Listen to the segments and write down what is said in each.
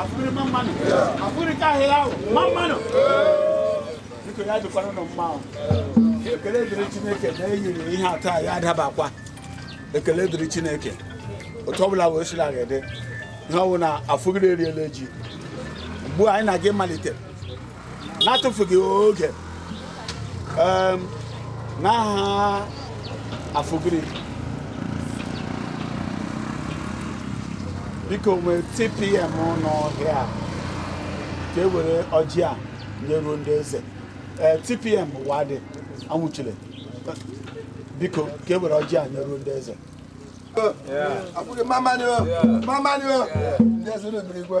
afụgiri mma mma nụ afụgiri ka ahịa ahụ mma mma nụ biko ya dịkwara unu mma o ekele dịrị chineke na eyiri ihe taa ya adabakwa ekele dịrị chineke otu ọbụla wee sila ga-ede ihe ọwụ na afụgiri eriela ji ugbu a anyị na-aga ịmalite n'atụfughị oge n'aha afụgiri biko nwee tpm nọ here ka e were ọjị a nyeruo ndị eze ee tpm wadị anwụchile biko ka e were ọjị a nyeruo ndị eze Yeah. Afụgiri mma mma nụ o, mma mma nụ o. Ndị eze na-emere igwe.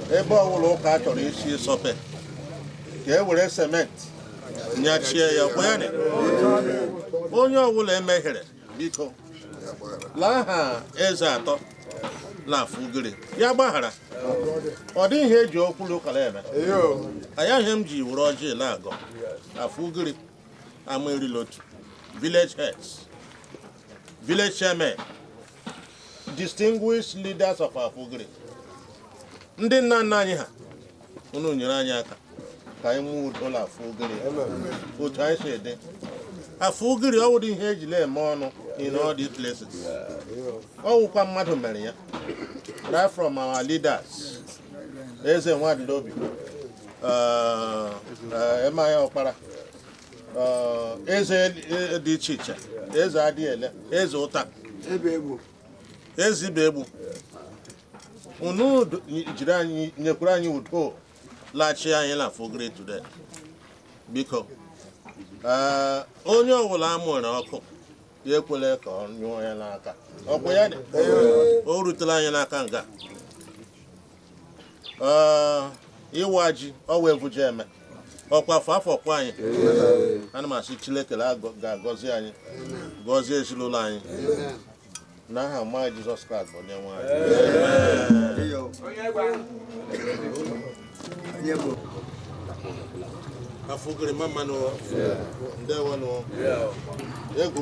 ebe ọbụla ụka chọrọ isi sọpe ka e were cement nyachie ya ọkwa ya onye ọbụla emehiere biko l'aha eze atọ na afụgiri ya gbaghara ọ dịghị ihe eji okwu l'ụka la-eme anya ihe m ji were ọjị la-agọ afụgiri ama iri l'otu village heads village chairman distinguished leaders of Afụgiri ndị nna nna anyị ha unu nyere anyị aka ka anyị mụọ ụlọ Afụgiri otu anyị si dị Afụgiri ọ wụdị ihe eji la-eme ọnụ in all these places ọ wụkwa mmadụ mere ya right from our leaders eze nwadịlobi emaya ọkpara eze e, dị iche iche eze adiele eze ụta eze ibegbu unu jiri anyị nyekwuru anyị udo laghachi anyị l'afụgiri today biko onye ọbụla amụrụ ọkụ ya ekwele ka ọ nyụọ ya l'aka ọkwa ya dị o rutela anyị l'aka nga ịwa ji ọwa evuja eme ọkwa afọ afọ kwa anyị ana m asị Chineke ga-agọzi anyị gọzie ezinụlọ anyị n'aha mma Jizọs Kraịst bụ onye nwe anyị afụgiri mma mma nụ ndewo nụ egwu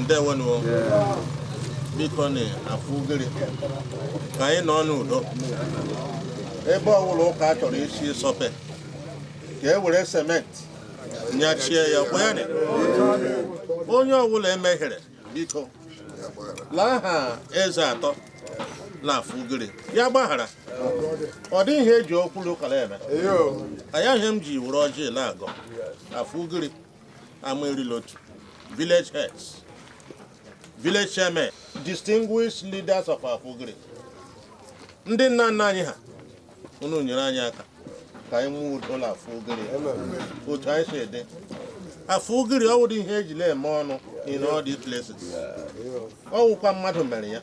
ndewenu bikonụ Afugiri ka anyị nọ n'udo ebe ọwụla ụka a chọrọ isi sọpe ka e were cement nyachie ya kwenye onye ọwụla emehiere biko l'aha eze atọ na Afugiri ya gbaghara ọ dị ihe e ji okwu l'ụka la-eme aya ihe m ji were ọjị na-agọ Afugiri ama erila otu village heads village chairmen distinguished leaders of our Afugiri ndị nna nna anyị ha unu nyere anyị aka ka anyị nwee udo na Afugiri otu anyị si dị Afugiri ọ wụdị ihe e ji la-eme ọnụ in all these places ọ wụkwa mmadụ mere ya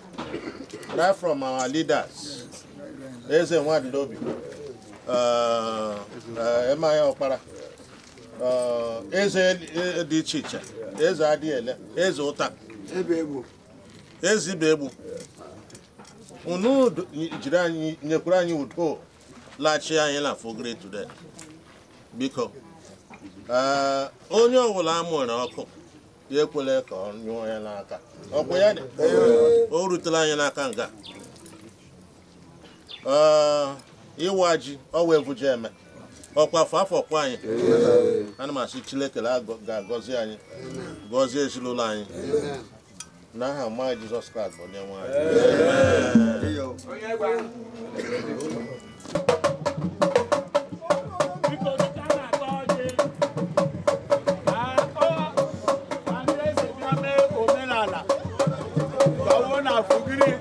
right from our leaders eze Nwadinobi M.I. Ọkpara eze dị iche iche eze Adiele eze Ụta eze Ibegbu unu jiri anyị nyekwuru anyị udo laghachi anyị na Afugiri today biko onye ọbụla a mụrụ ọkụ ya ekwele ka ọ nyụọ ya n'aka ọkụ ya dị o rutela anyị n'aka nga ịwa ji ọwa ebuja eme ọkwa afọ afọ ka anyị ana m asị Chineke ga-agọzi anyị gọzie ezinụlọ anyị n'aha ọma Jizọs Kraịst bụ onye nwe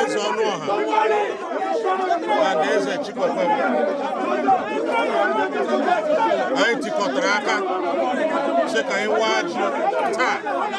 eze Ọnụọha na ndị eze chịkọkwara anyị tikọtara aka sị ka anyị waa ji taa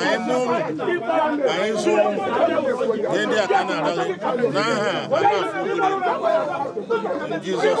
anyị mụọ ụmụ anyị zụọ ụmụ ihe ndị a ka na-arịọ gị n'aha Jizọs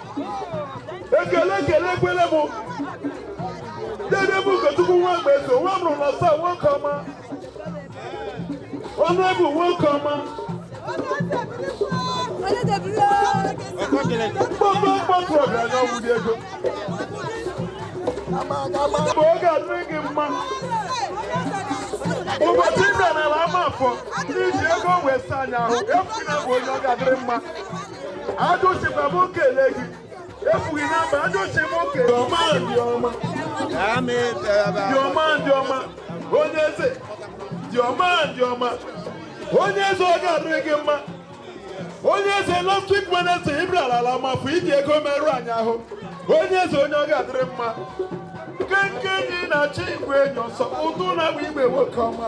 ekele ekele ekele m dede bụ ụkọchukwu nwa mgbe so nwa mụrụ na saa nwoke ọma ọnụ bụ nwoke ọma mkpọmkpọ mkpọtụ ọgaranya ọgwụdị ego mgbe ọ ga-adịrị gị mma ụbọchị ị bịara n'ala ama afọ n'iji ego wee saa anyị ahụ efu na bụ onye ọ ga-adịrị mma ajụsịkwa m kele gị efughị na mba ajụsị m kele ọma dị ọma dị ọma dị ọma onye eze dị ọma dị ọma onye eze ọ ga-adịrị gị mma onye eze last week Wednesday ị bịara ala ama afọ iji ego merụ anyị ahụ onye eze onye ọ ga-adịrị mma nkenke enyi na-achụ igwe enyi ọsọ ụtụ na-agba igwe nwoke ọma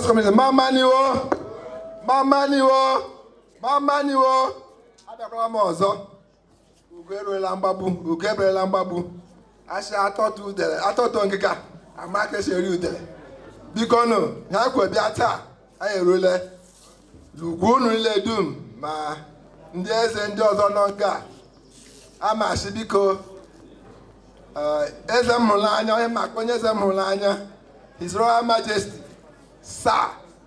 House Committee mama ni o mama ni o mama ni o abịakwala m ọzọ ugo eruela mgbagbu ugo eberela mgbagbu asị atọtụ udele atọtụ ngịga ama ka esi eri udele biko nụ ha kwe bịa taa anyị erule ugwu unu niile dum ma ndị eze ndị ọzọ nọ nga a ama asị biko eh, eze m hụrụ anya onye maka onye eze m hụrụ anya his royal majesty sa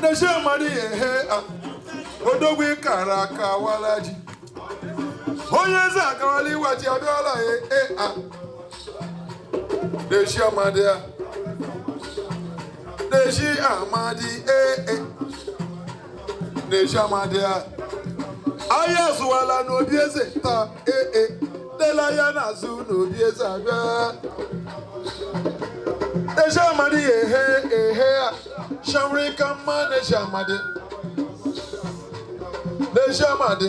n'ezi amadi ya ehe a odogwu kara aka awala ji onye eze agawala iwa ji abịala ya e a n'ezi amadi ya n'ezi amadi e e n'ezi amadi ya ahịa azụwala n'obi eze taa ee e lele ahịa na-azụ n'obi eze abịa eze amadi ya ehe ehe a shanwere ka mma n'ezi amadi n'ezi amadi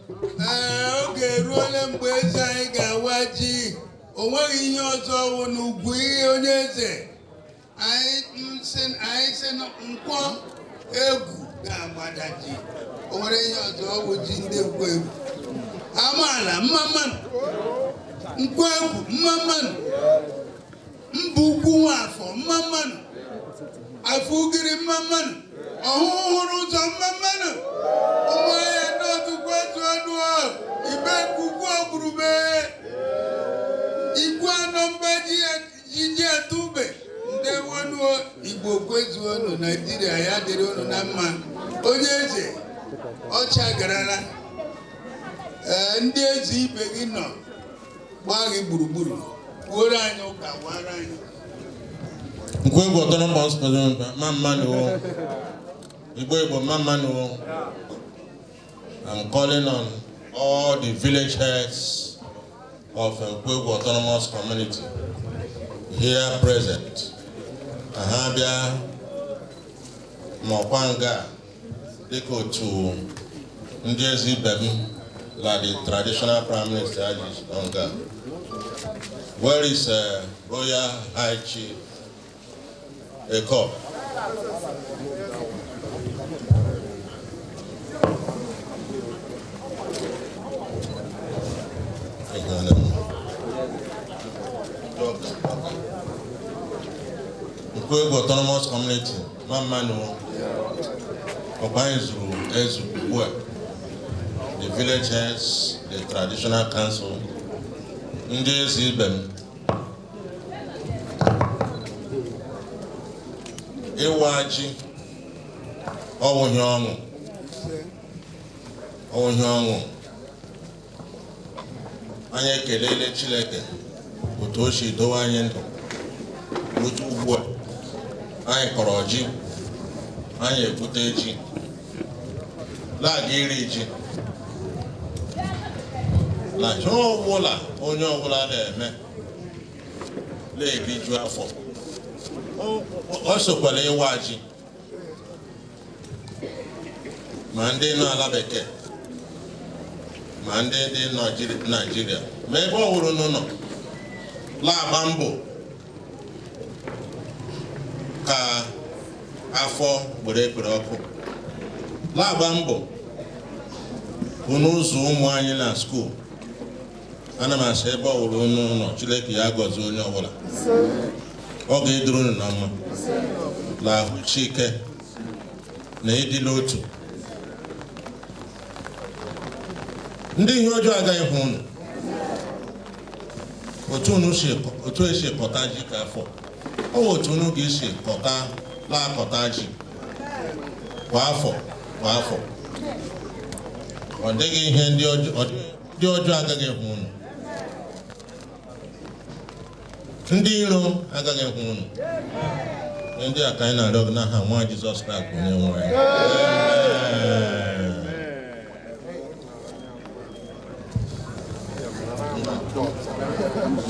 oge eruola mgbe eze anyị ga-awa ji o nweghị ihe ọzọ ọ wụ na ugwu ihe onye eze anyị si nkwọ egwu ga-agbada ji o nwere ihe ọzọ ọ wụ ji ndị nkwọ egwu amaala mma mma nụ nkwọ egwu mma mma nụ mba ukwu nwa afọ mma mma nụ afọ ugiri mma mma nụ ọhụhụ hụrụ ụzọ mma mma nụ ụmụahịa ndị ọtụkwu etu ọnụ ibeku ukwu ogurube ikwuanọ mba ji ji atụ ube ndeewo nụ igbo kwezuo nụ naijiria ya dịrị unu na mma onye eze ọcha garala ee ndị eze ibe gị nọ gbaa gị gburugburu kwuoro anyị ụka wara anyị nkwe bụ ọtọrọ mba ọsụpụrụ mba mma mma nụ wo igbo igbo mma mma nụ wo I'm calling on all the village heads of Nkwegwu Autonomous Community here present. Aha bịa nọkwa nga dịka otu ndị eze ibe m na the traditional prime minister ji nọ nga where is uh, royal high chief Eko Igbo Autonomous Community the village heads, the traditional council, ndị eze ibe m ịwa ji ọ wụ ihe ọṅụ ọ wụ ihe ọṅụ anyị ekelele Chineke otu o si dowe anyị ndụ n'otu ugbu a anyị kọrọ ji anyị egwute ji la-aga iri ji na ihe ọbụla onye ọbụla na-eme na-eriju afọ ọ sokwara ịwa ji ma ndị nọ ala bekee ma ndị dị naijiria ma ebe ọwụla unu nọ la-agba mbọ ka afọ gbere ekpere ọkụ la-agba mbọ ka unu zụọ ụmụ anyị na skuul ana m asị ebe ọwụla unu nọ Chineke ya gọzi onye ọbụla ọ ga-eduru unu na mma na ahụ ike na ịdị n'otu ndị ihe ọjọọ agaghị ahụ unu otu e si kọta ji ka afọ ọ bụ otu unu ga-esi kọta na-akọta ji kwa afọ kwa afọ ọ dịghị ihe ndị ọjọọ ndị ọjọọ agaghị ekwe unu ndị iro agaghị ekwe unu ndị a ka anyị na-arịọ gị n'aha nwa Jizọs Kraịst bụ onye nwe anyị Amen.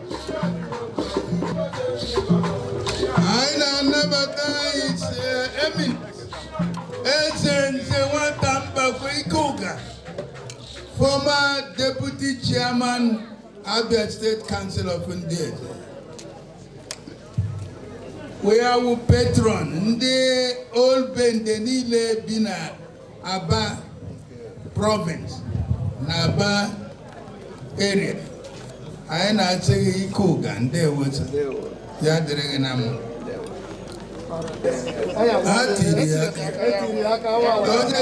anyị na-anabata HRM Eze Nzenwata Mbakwe Ike Ụga former deputy chairman Abia State Council of Ndị Eze wee awụ patron ndị Old Bende niile bi na Aba province na Aba area anyị na-asị gị Ike Ụga ndeewo taa ya dịrị gị na mma ha tiri ya aka onye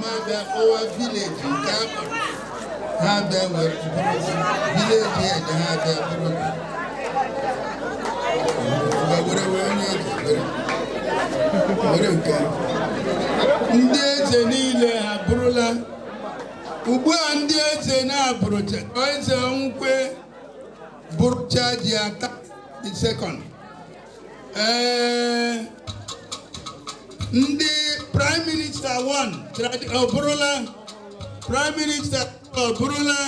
ma bịa kpọwa village nke akpa ha bịa wee village head ha bịa buru were wee onye ejibere were nke ndị eze niile ha eburula ugbu a ndị eze na-eburucha eze ọnwụkwe burucha ji ata second ee ndị prime minister 1 ọ burula prime minister ọ burula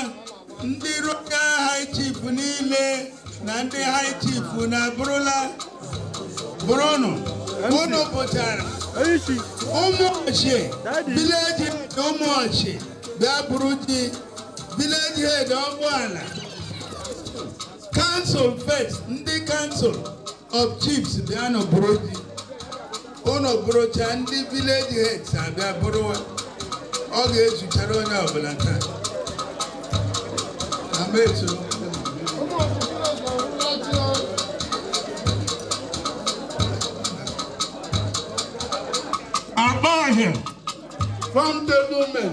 ndị royal high chief niile na ndị high chief na eburula burunụ unu pụtara Ụmụọshị village na Ụmụọshị bịa buru ji village head ọgbọala council of chiefs ndị council of chiefs bịanụ bụrụ di ụnụ bụrụcha ndị vileji heads abịa buruwa ọ ga-ezuchara onye ọbụla taa ameso akpa ahịa from the women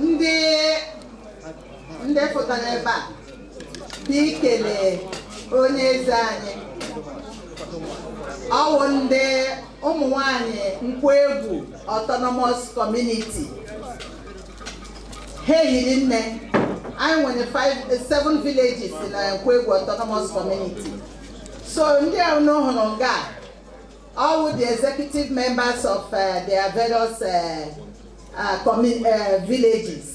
ndị ndị pụtara ebe a dị ikele onye eze anyị ọ wụ ndị ụmụ nwanyị Nkwọegwu autonomous community ha ehiri nne anyị nwere five seven villages na Nkwọegwu autonomous community so ndị a unu hụrụ nga a Ọ wụ the executive members of uh, their various uh, uh, commun- uh, villages.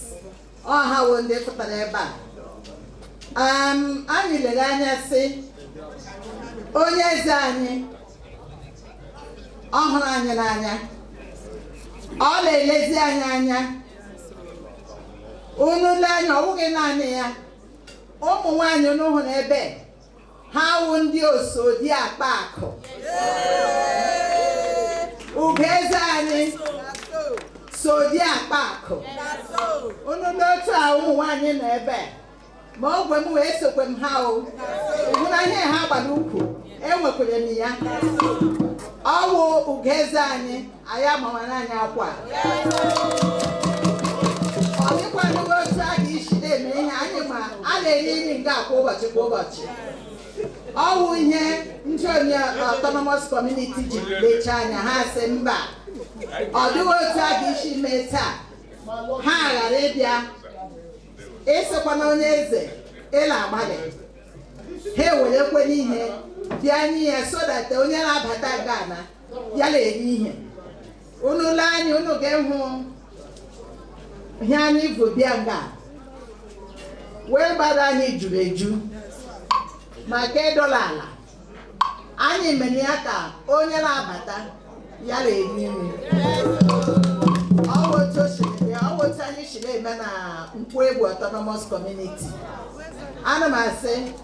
Ọ ha wụ ndị pụtara ebe a. Um, anyị lere anya sị onye eze anyị ọ hụrụ anyị n'anya ọ na-elezi anyị anya unu lee anya ọ wụghị naanị ya ụmụ nwaanyị unu hụrụ ebe ha wụ ndị osodi akpa akụ ugoeze anyị sodi akpa akụ unu n'otu a ụmụ nwaanyị nọ ebe ma ogwe m wee sokwe m ha o hụna ihe ha gbado ụkwụ enwekwere m ya ọ wụ ugoeze anyị anyị agbanwere anyị akwa ọ dịkwanụghị otu a ga isi na-eme ihe anyị ma a na-eri nri nga a kwa ụbọchị kwa ụbọchị ọ wụ ihe ndị onye autonomous community ji lecha anya ha sị mba ọ dịghị otu a ga isi mee taa ha ghara ịbịa ịsịkwana onye eze ị na-agbalị ha ewerekwanụ ihe bịa nye ya so that onye na-abata nga na ya na-eri ihe unu le anya unu ga-ehụ ihe anyị bu bịa nga wee bata anyị juru eju maka ịdọla ala anyị mere ya ka onye na-abata ya na-eri nri ọ bụ otu o si dị, ọ bụ otu anyị si na-eme na Nkwoegwu autonomous community ana m asị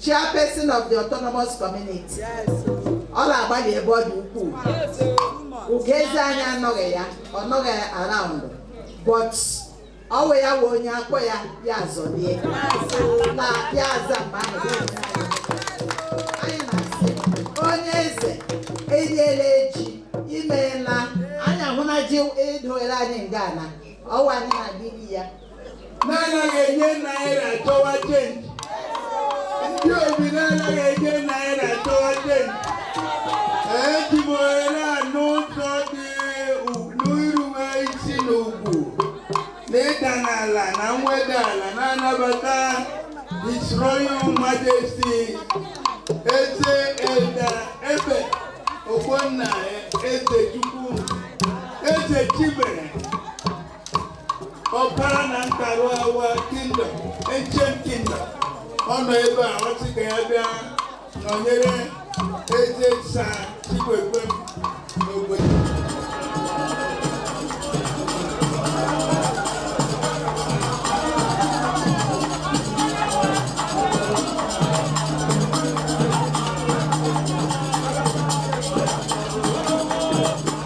chairperson of the autonomous community ọ na-agbalị ebe ọ dị ukwuu ugoeze anyị anọghị ya ọ nọghị around but ọ wụ ya wụ onye a kpọọ ya ya azọlie na ya aza mgbe ahụ ya onye anyị. anyị na-asị onye eze eriela ji imeela anyị ahụna ji e doere anyị nga na ọ wụ anyị na-adịghị ya na-anaghị enye naira chọwa chenji ndị obi na-anaghị enye naira chọwa chenji eji m ohere a n'ụzọ dị n'irube isi na ugwu na ịda n'ala na mweda ala na-anabata His Royal Majesty Eze Elder Ebe Ogbonna Ezechukwu Eze Chibere ọkpara na ntarụ awa kingdom ancient kingdom ọ nọ ebe a ọ sị ka ya bịa nọnyere eze Sir chikwekwe m n'obodo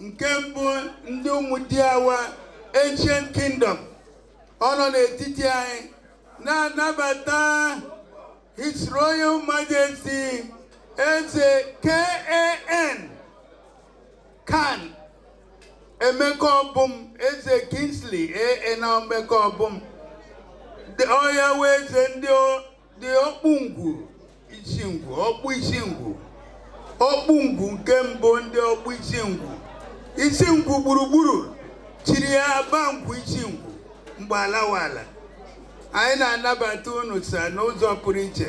nke mbụ ndị Ụmụdiawa ancient kingdom ọ nọ n'etiti anyị na-anabata his royal majesty eze kan kan Emekobum eze Kingsley N Emekobum ọha nwe eze ndị dị Ọkpụngwu Isingwu Ọkpụ Isingwu Ọkpụngwu nke mbụ ndị Ọkpụ Isingwu Isingwu gburugburu chiri ya ba ngwu Isingwu mgbe alawala anyị na-anabata unu sa n'ụzọ pụrụ iche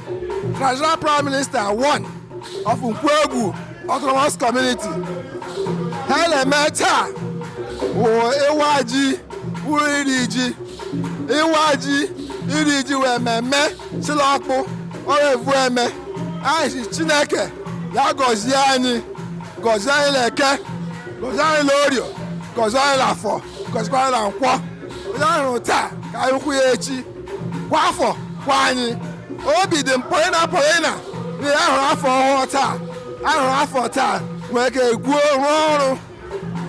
traditional prime minister one of Nkwoegwu autonomous community ihe anyị na-eme taa bụ ịwa ji bụ iri ji ịwa ji iri ji wụ mmemme si la ọkpụ ọrụ evu eme anyị si chineke ya gọzie anyị gọzie anyị na eke gọzie anyị na orio gọzie anyị na afọ gọziekwa anyị na nkwọ onye anyị hụrụ taa ka anyị hụkwu ya echi kwa afọ kwa anyị obi dị m pọlịna pọlịna na anyị hụrụ afọ ọhụrụ taa anyị hụrụ afọ taa nwere ike gwuo rụọ ọrụ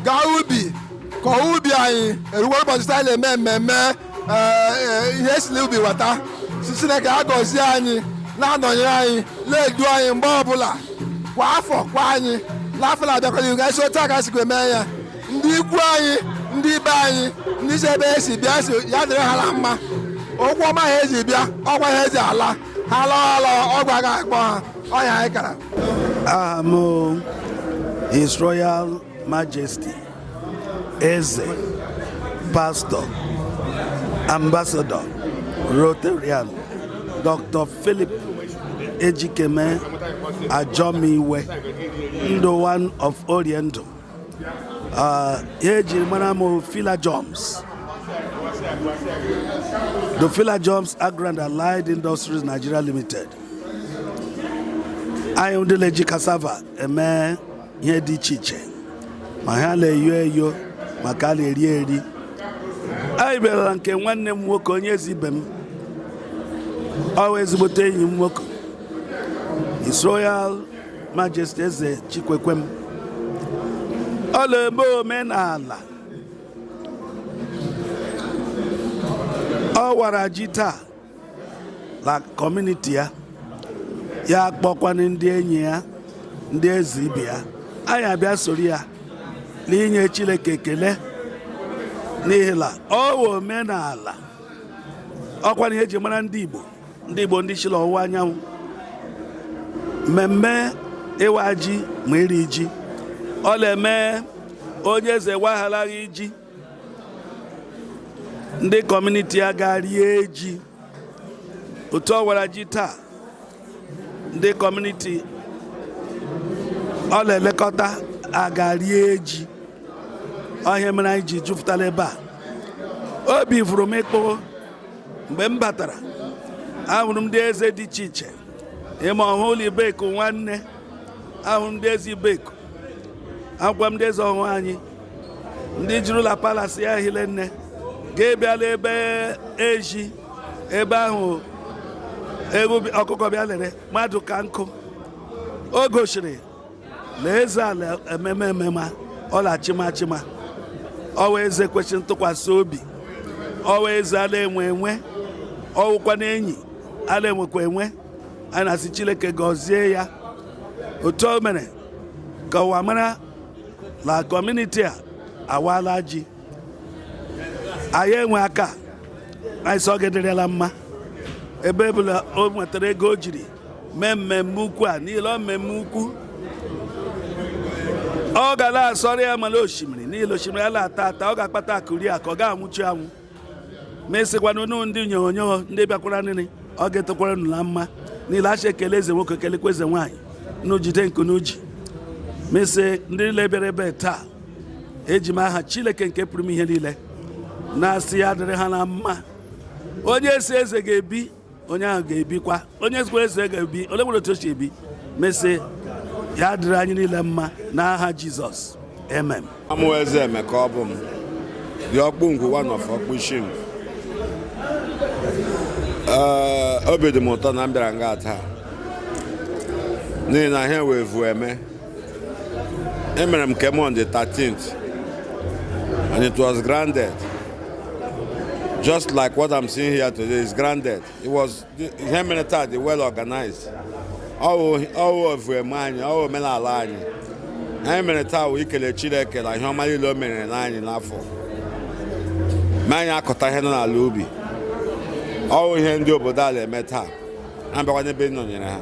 gaa ubi kọọ ubi anyị erukwa ụbọchị taa anyị na-eme mmemme ee, ee, ihe e si l'ubi weta si chineke agọzie anyị na-anọnyere anyị na-edu anyị mgbe ọbụla kwa afọ kwa anyị n'afọ na-abịakwala ihu ka anyị si otu a ka anyị sikwa eme ya ndị ikwu anyị ndị ibe anyị ndị si ebe esi bịa si ya dịrị ha na mma ụkwụ ọma ha eji bịa ọgwa ha eji ala ha lọọ ha lọọ ogwu aga akpọ ha ọ nya anyị kara aha m His Royal Majesty Eze Pastor Ambassador Rotarian Dr. Philip Ejikeme Ajomiwe Ndụ one of Oriendu Ah, ihe ejiri mara m Philajoms the Philajoms agro and allied industries nigeria limited anyị ndị na-eji cassava eme ihe dị iche iche ma ha na-eyo eyo ma ka a na-eri eri anyị bịara na nke nwanne m nwoke onye eze ibe m ọ wụ ezigbote enyi m nwoke His Royal Majesty Eze Chikwekwem ọ la-eme omenala ọ wara ji taa na kọmuniti ya ya kpọkwanụ ndị enyi ya ndị eze ibe ya anyị abịa soro ya n'inye Chineke ekele n'ihi na ọ wụ omenala ọ kwanụ ihe eji mara ndị Igbo ndị Igbo ndị shi la ọwụwa anyanwụ mmemme ịwa ji ma iri ji ọ na-eme onye eze wagharaghị ji ndị kọmuniti ya ga rie ji otu ọ wara ji taa ndị kọmuniti ọ na-elekọta aga rie ji ọ ihe mere anyị ji jupụta n'ebe a obi fụrụ m ịkpụ mgbe m batara ahụrụ m ndị eze dị iche iche ị ma Ọhụhụ la Ibeku nwanne ahụrụ m ndị eze Ibeku ahụkwa m ndị eze Ọhụhụ anyị ndị juru la palasi ya hile nne ga-ebịala ebe ezi ebe ahụ ọkụkọ bịa lere mmadụ ka nkụ o gosiri na eze a na-emema emema ọ la-achịma achịma ọwụ eze kwesịrị ntụkwasị obi ọwụ eze a na-enwe enwe ọwụkwa na enyi a na-enwekwa enwe anyị na-asị Chineke gọzie ya otu o mere ka ụwa mara na kọmuniti a awaala ji anyị enwe aka anyị sị ọ ga-adịrị ya la mma ebe ọ bụla o nwetara ego o jiri mee mmemme ukwu a niile ọ mmemme ukwu ọ ga na-asọrọ ya mara osimiri niile osimiri ya na-ata ata ọ ga-akpata akụ rie akụ ọ ga-anwụchi anwụ m asịkwanụ unu ndị nyonyo ndị bịakwara nri ọ ga-adịkwara unu na mma niile asị ekele eze nwoke kelekwa eze nwaanyị unu jide nke unu ji m asị ndị niile bịara ebe taa eji m aha Chineke nke pụrụ ime ihe niile na-asị ya dịrị ha na mma onye sị eze ga-ebi onye ahụ ga-ebikwa onye sịkwara eze ga-ebi ole nwere otu o si ebi m asị ya dịrị anyị niile mma n'aha Jizọs amen aha mụ wụ eze Emeka ọ bụ m dị ọkpụ ngwu one of ọkpụ Isingwu obi dị m ụtọ na m bịara nga taa n'ihi na ihe a wụ evueme emere m nke m on the 13th and it was grand just like what I'm seeing here today is grand ihe e mere taa dị well organized ọwụ evueme anyị ọwụ omenala anyị ihe e mere taa wụ ikele Chineke na ihe ọma niile o merela anyị n'afọ mee anyị akọta ihe nọ n'ala ubi ọwụ ihe ndị obodo a na-eme taa ha bịakwa n'ebe ịnọnyere ha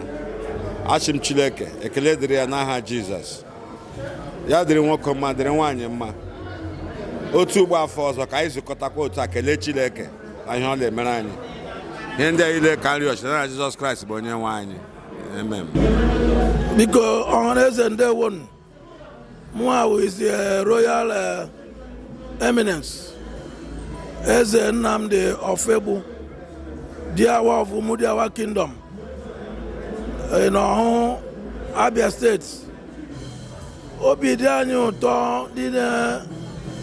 asị m Chineke ekele dịrị ya n'aha Jizọs ya dịrị nwoke mma dịrị nwaanyị mma otu ugbu a afọ ọzọ ka anyị zụkọtakwa otu a kelee Chineke na ihe ọ na-emere anyị ihe ndị a niile ka m rịọ shi n'aha Jizọs Kraịst bụ onye nwe anyị amen biko ọhaneze ndewonu Mụnwa wụ His Royal Eminence. Eze Nnamdi Ofoegbu, Diawa of Umudiawa Kingdom, in Ohuhu, Abia State. Obi dị anyị ụtọ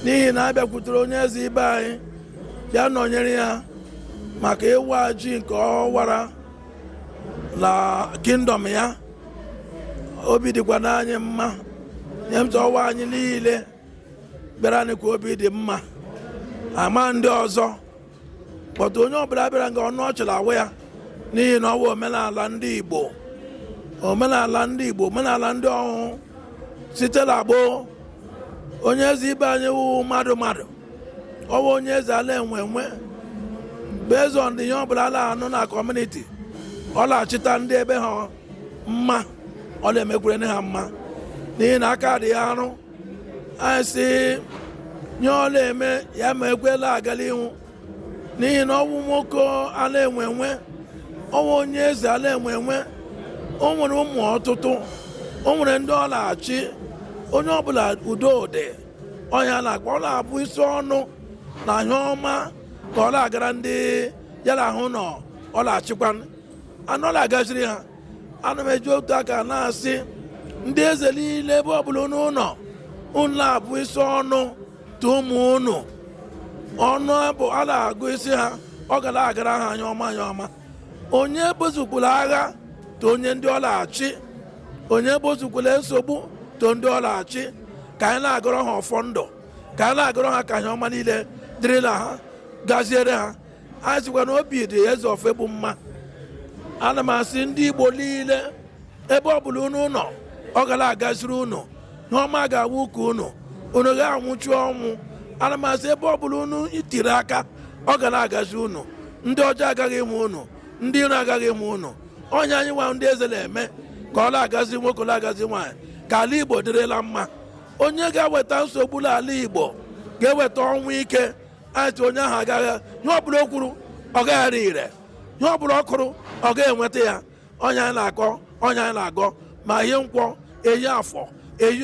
n'ihi na abịakwutere onye eze ibe anyị bịa nọnyere ya maka ịwa ji nke ọ wara la kingdom ya. obi dịkwanụ anyị mma nhe m sị ọ wụ anyị niile bịara nị ka obi dị mma ama ndị ọzọ but onye ọbụla bịara nga ọnụ ọchị la-awa ya n'ihi na ọ wụ omenala ndị Igbo omenala ndị Igbo omenala ndị Ọhụhụ site la gboo onye eze ibe anyị wụ mmadụ mmadụ ọ wụ onye eze a la-enwe enwe based on ihe ọ bụla a la-anụ na community ọ la-achịta ndị ebe ha mma ọ la-emekwerenị ha mma n'ihi na aka dị ya arụ anyị sị nhe ọ la-eme ya mekwe la-aga l'ihu n'ihi na ọ wụ nwoke a la-enwe enwe ọ wụ onye eze a la-enwe enwe o nwere ụmụ ọtụtụ o nwere ndị ọ la-achị onye ọbụla udo dị ọhịa na-akpa ọ la-abụsi ọnụ na ihe ọma ka ọ la-agara ndị ya la ha nọ ọ la-achịkwanụ ọ la-agaziri ha ana m eji otu aka na-asị ndị eze niile ebe ọbụla unu nọ unu la-abụsi ọnụ to ụmụ unu ọnụ bụ a la-agọzi ha ọ ga la-agara ha ihe ọma ihe ọma onye ebusokwala agha to onye ndị ọ la-achị onye ebusokwala nsogbu to ndị ọ la-achị ka anyị la-agọrọ ha ọfọ ndụ ka anyị la-agọrọ ha ka ihe ọma niile dịrịla ha gaziere ha anyị sịkwa na obi dị Eze Ofoegbu mma ana m asị ndị igbo niile ebe ọ bụla unu nọ ọ ga la-agaziri unu ihe ọma ga-awụ nke unu unu agaghị anwụchu ọnwụ ana m asị ebe ọ bụla unu tiri aka ọ ga la-agazi unu ndị ọjọọ agaghị ịhụ unu ndị iro agaghị ịhụ unu ọ ya anyị nwa ndị eze la-eme ka ọ la-agazi nwoke la-agazi nwaanyị ka ala igbo dịrịla mma onye ga-eweta nsogbu l'ala igbo ga-eweta ọnwụ ike anyị sị onye ahụ agaghị ihe ọbụla o kwuru ọ gaghị ire ihe ọbụla ọ kụrụ ọ ga-enweta ya ọ ya anyị na-agọ ọ ya anyị na-agọ ma eyi nkwọ eyi afọ eyi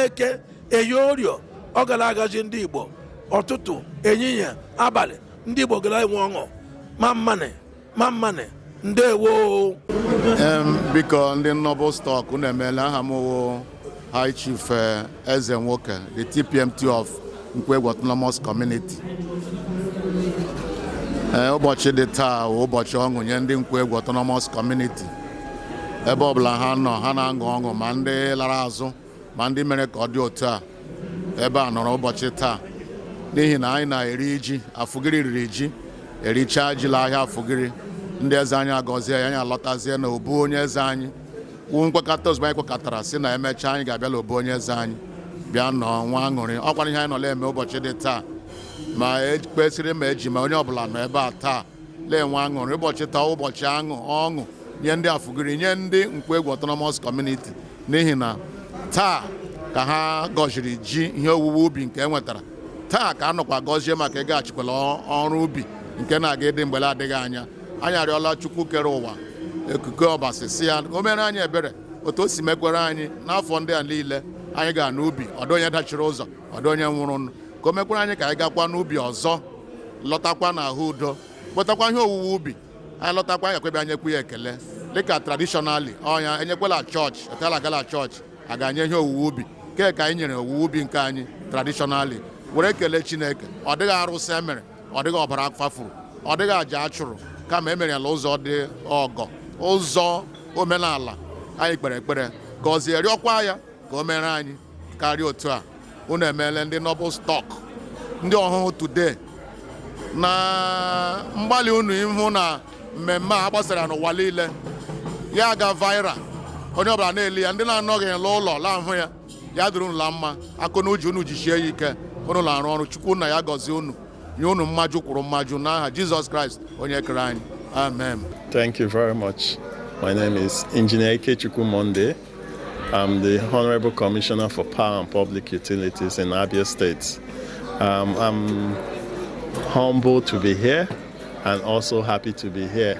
eke eyi orie ọ ga la-agazi ndị igbo ụtụtụ ehihie abalị ndị igbo ga la-enwe ọṅụ mma mma nị mma mma nị ndewo biko ndị nnọbụ stọk na-emela aha m High Chief eh, Ezenwoke, the TPMT of Nkwoegwu Autonomous Community. Eh, ụbọchị dị taa ụbọchị ọṅụ nye ndị Nkwoegwu Autonomous Community. Ebe ọbụla ha nọ ha na-aṅụ ọṅụ ma ndị lara azụ ma ndị mere ka ọ dị otu a ebe a nọrọ ụbọchị taa n'ihi na anyị na-eri ji afụgiri riri ji erichaa ji la ahịa afụgiri ndị eze anyị agọzie ya anyị alọtazie na obu onye eze anyị nkwekọta ozugbo anyị kwekọtara sị na emechaa anyị ga-abịa la obu onye eze anyị bịa nọọ nwee aṅụrị ọ kwanụ ihe anyị nọ la-eme ụbọchị dị taa ma ekpesịrị ma eji ma onye ọbụla nọ ebe a taa la-enwe aṅụrị ụbọchị taa ụbọchị aṅụ ọṅụ nye ndị afụgiri nye ndị nkwoegwu autonomous community n'ihi na taa ka ha gọziri ji ihe owuwe ubi nke e nwetara taa ka a nọkwa gọzie maka ịgaghachikwa la ọrụ ubi nke na-aga ịdị mgbe la-adịghị anya anyị arịọla chukwu kere ụwa okike ọbasi sị ya o mere anyị ebere otu o si mekwere anyị n'afọ ndị a niile anyị ga n'ubi ọ dịghị onye dachiri ụzọ ọ dịghị onye nwụrụ ka o mekwere anyị ka anyị gakwa n'ubi ọzọ lọtakwa n'ahụ udo kpọtakwa ihe owuwe ubi anyị lọtakwa anyị abịa nyekwu ya ekele dịka tradishọnali ọnya e nyekwa la chọọchị etu a la-aga la chọọchị aga enye ihe owuwe ubi kee ka anyị nyere owuwe ubi nke anyị tradishọnali were kelee chineke ọ dịghị arụsị e mere ọ dịghị ọbara a kwafuru ọ dịghị aja a chụrụ kama e mere ya na ụzọ dị ọgọ ụzọ omenala anyị kpere ekpere gọzie rịọkwa ya ka o mere anyị karịa otu a unu emeela ndị noble stock ndị ọhụhụ today na mgbalị unu ịhụ na mmemme a gbasara n'ụwa niile ya ga viral onye ọbụla na-ele ya ndị na-anọghị n'ụlọ la-ahụ ya ya dịrị unu la mma akụ na uju unu jishie ya ike unu na-arụ ọrụ chukwu nna ya gọzie unu nye unu mmaji kwuru mmaji n'aha jizọs kraịst onye kere anyị amen Thank you very much. My name is Engineer Ikechukwu Monday. I'm the Honorable Commissioner for Power and Public Utilities in Abia State. Um, I'm humbled to be here and also happy to be here.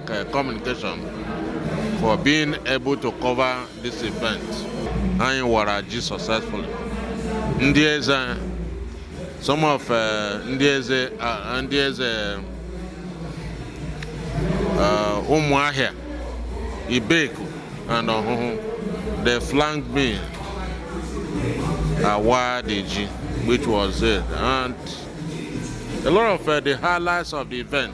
uh, communication for being able to cover this event anyị wara ji successfully ndị eze some of uh, ndị eze uh, ndị eze ụmụahịa ibeku and ọhụhụ they flanked me awaa the ji which was it and a lot of uh, the highlights of the event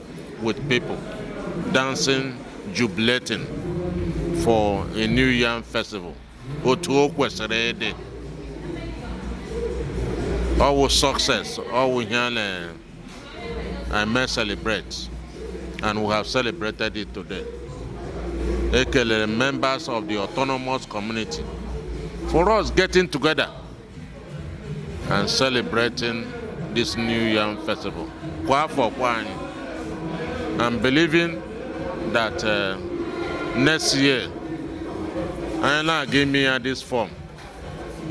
with people dancing, jubilating for a New Yam festival. Otu o kwesịrị ịdị. Ọ wụ success, ọ wụ ihe a na-eme celebrate and we have celebrated it today. Ekelere members of the autonomous community for us getting together and celebrating this new yam festival kwa afọ kwa anị and believing that uh, next year anyị na-aga ime ya this form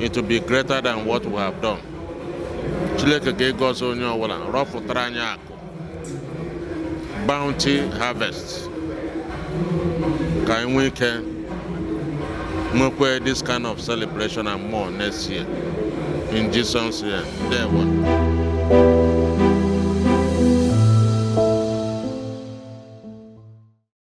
it will be greater than what we have done Chineke ga-agọzi onye ọbụla rọpụtara anyị akụ bounty harvest ka anyị nwee ike nwekwa this kind of celebration and more next year in Jesus name ndewo